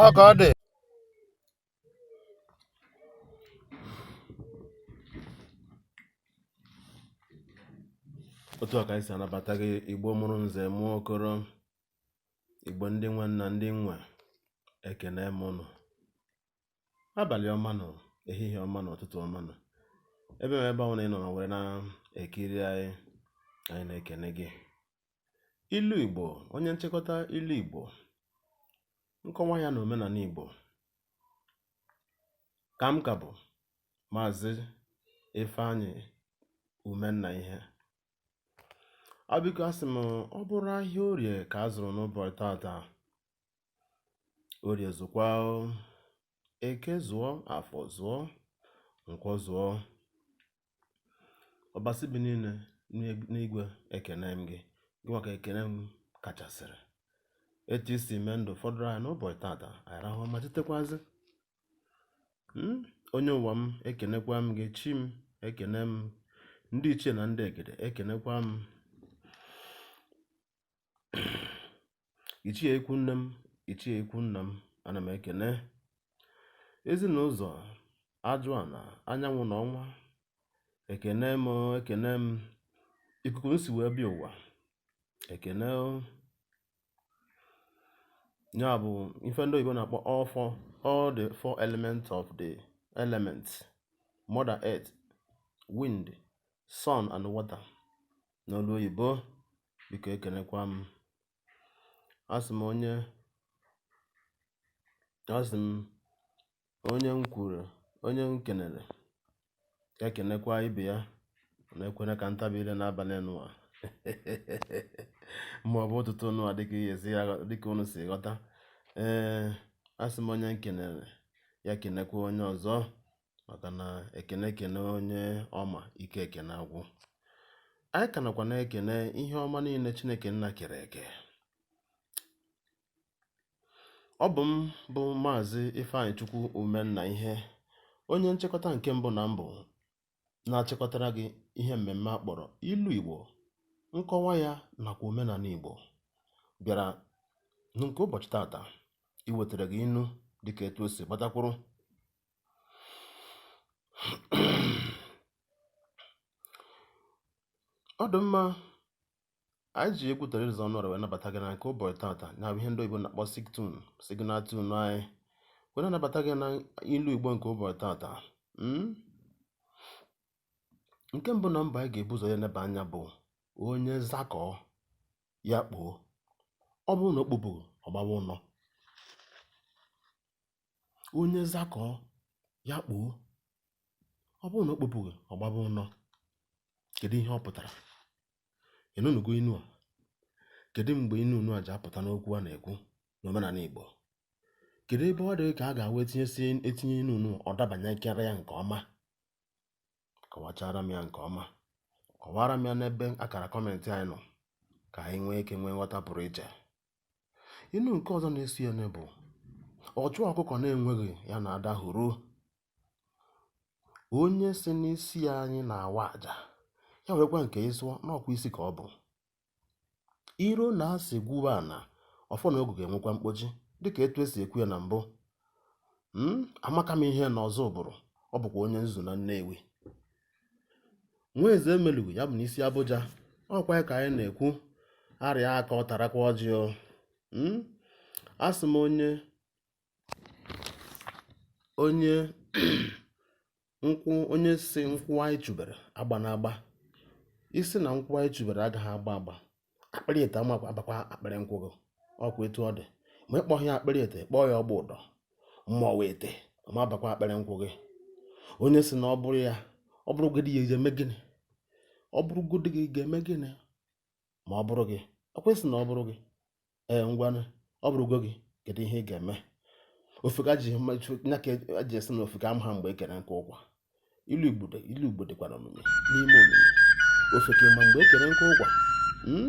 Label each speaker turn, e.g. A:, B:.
A: ọ ka ọ dị otu a ka anyị si anabata gị igbo mụrụ nze mụọ okoro igbo ndị nwe m na ndị nwe ekene m ụnụ abalị ọma nụ ehihie ọma nụ ụtụtụ ọma nụ ebe ma ebe ọbụla ị nọ ma were na-ekiri anyị anyị na-ekene gị ilu igbo onye nchịkọta ilu igbo nkọwa ya na omenala igbo ka m ka bụ maazị ifeanyị umenna ihe ọ biko asị m ọ bụrụ ahịa orie ka a zụrụ n'ụbọchị tata Orie zụkwa o. Eke zụọ, Afọ zụọ, Nkwọ zụọ. Ọbasi bi niile n'eg- n'igwe ekene m gị. Gịnwa ka ekene m kachasịrị. Etu i si mee ndụ fọdụrụ anyị n'ụbọchị tata, anyị rahụ ụra ma tetekwazị. Mm, Onye ụwa m, ekenekwa m gị. Chi m, ekene m. Ndị ichie na ndị egede, ekenekwa m. ichie ikwu nne m ichie ikwu nna m ana m ekene ezi na ụzọ aja ana anyanwụ na ọnwa ekene m ekene m ikuku m si wee bịa ụwa ekene o. ya bụ ife ndị oyibo na-akpọ all four all the four elements of the elements mother earth wind sun and water n'olu oyibo biko ekenekwa m asị m onye asị m onye m kwuru onye m kenere ya kenekwa ibe ya na ekene ka ntabi ile n'abalị nụwa ma ọ bụ ụtụtụ nụwa dịka ihe si dịka unu si ghọta ee asị m onye m kenere ya kenekwa onye ọzọ maka na ekene ekene onye ọma ike ekene agwụ anyị ka nakwa na-ekene ihe ọma niile Chineke nna kere eke ọ bụ m bụ maazị Ifeanyịchukwu Umenna ihe onye nchịkọta nke mbụ na mbụ na-achịkọtara gị ihe mmemme a kpọrọ ilu Igbo nkọwa ya nakwa omenala Igbo bịara na nke ụbọchị tata iwetara gị inu dịka etu o si gbatakwụrụ ọ dị mma anyị ji egwu Teresa Ọnụọra wee nabata gị na nke ụbọchị tata na ihe ndị oyibo na-akpọ siktun signal tune anyị wee nabata gị na ilu igbo nke ụbọchị tata hmm? nke mbụ na mbụ anyị ga-ebu ụzọ ya nebe anya bụ onye zakọọ ya kpoo ọ bụrụ na o kpopụghị ọ gbawa ụnọ onye zakọọ ya kpoo ọ bụrụ na o kpopụghị ọ gbaba ụnọ kedu ihe ọ pụtara ị nụnụgo inu a kedu mgbe inu nụ a ji apụta n'okwu a na-ekwu n'omenala Igbo kedu ebe ọ dịghị ka a ga-awa etinye inu nụ ọ dabanye nkere ya nke ọma kọwachara m ya nke ọma kọwara m ya n'ebe akara kọmentị anyị nọ ka anyị nwee ike nwee nghọta pụrụ iche Inu nke ọzọ na-eso ya bụ ọchụ ọkụkọ na-enweghị ya na ada hụrụ onye sị n'isi anyị na-awa aja ya werekwa nke ya sụọ n'ọkwa isi ka ọ bụ iro na asị gwuo ana ọfọ na ogu ga-enwekwa mkpọchi dịka etu esi ekwu ya na mbụ hmm, amaka m ihe n'Ọzụbụrụ ọ bụkwa onye nzuzu na Nnewi nwa eze emelugu ya bụ n'isi Abuja ọkwa ya ka anyị na-ekwu arịa aka ọ tarakwa ọjị o hmm? asị m onye onye nkwụ onye sị nkwụ anyị chụbere agbana agba ị sị na nkwụ anyị chụbere agaghị agba agba akpịrị ete ma abakwa akpịrị nkwụ gị ọkwa etu ọ dị ma ị kpọghị ya akpịrị ete kpọọ ya ọgba ụdọ ma ọwa ete ma abakwa akpịrị nkwụ gị onye sị na ọ bụrụ ya ọ bụrụgodị ya ga-eme gịnị ọ bụrụgodị gị ga-eme gịnị ma ọ bụrụ gị ọkwa sị na ọ bụrụ gị ee ngwanụ ọ bụrụgo gị kedu ihe ị ga-eme ofeke nya ka e ji sị na ofeke amaha mgbe e kere nkụ ụkwa ilu igbo dịkwa n'omimi n'ime omimi ofeke ama mgbe e kere nkụ ụkwa hmm?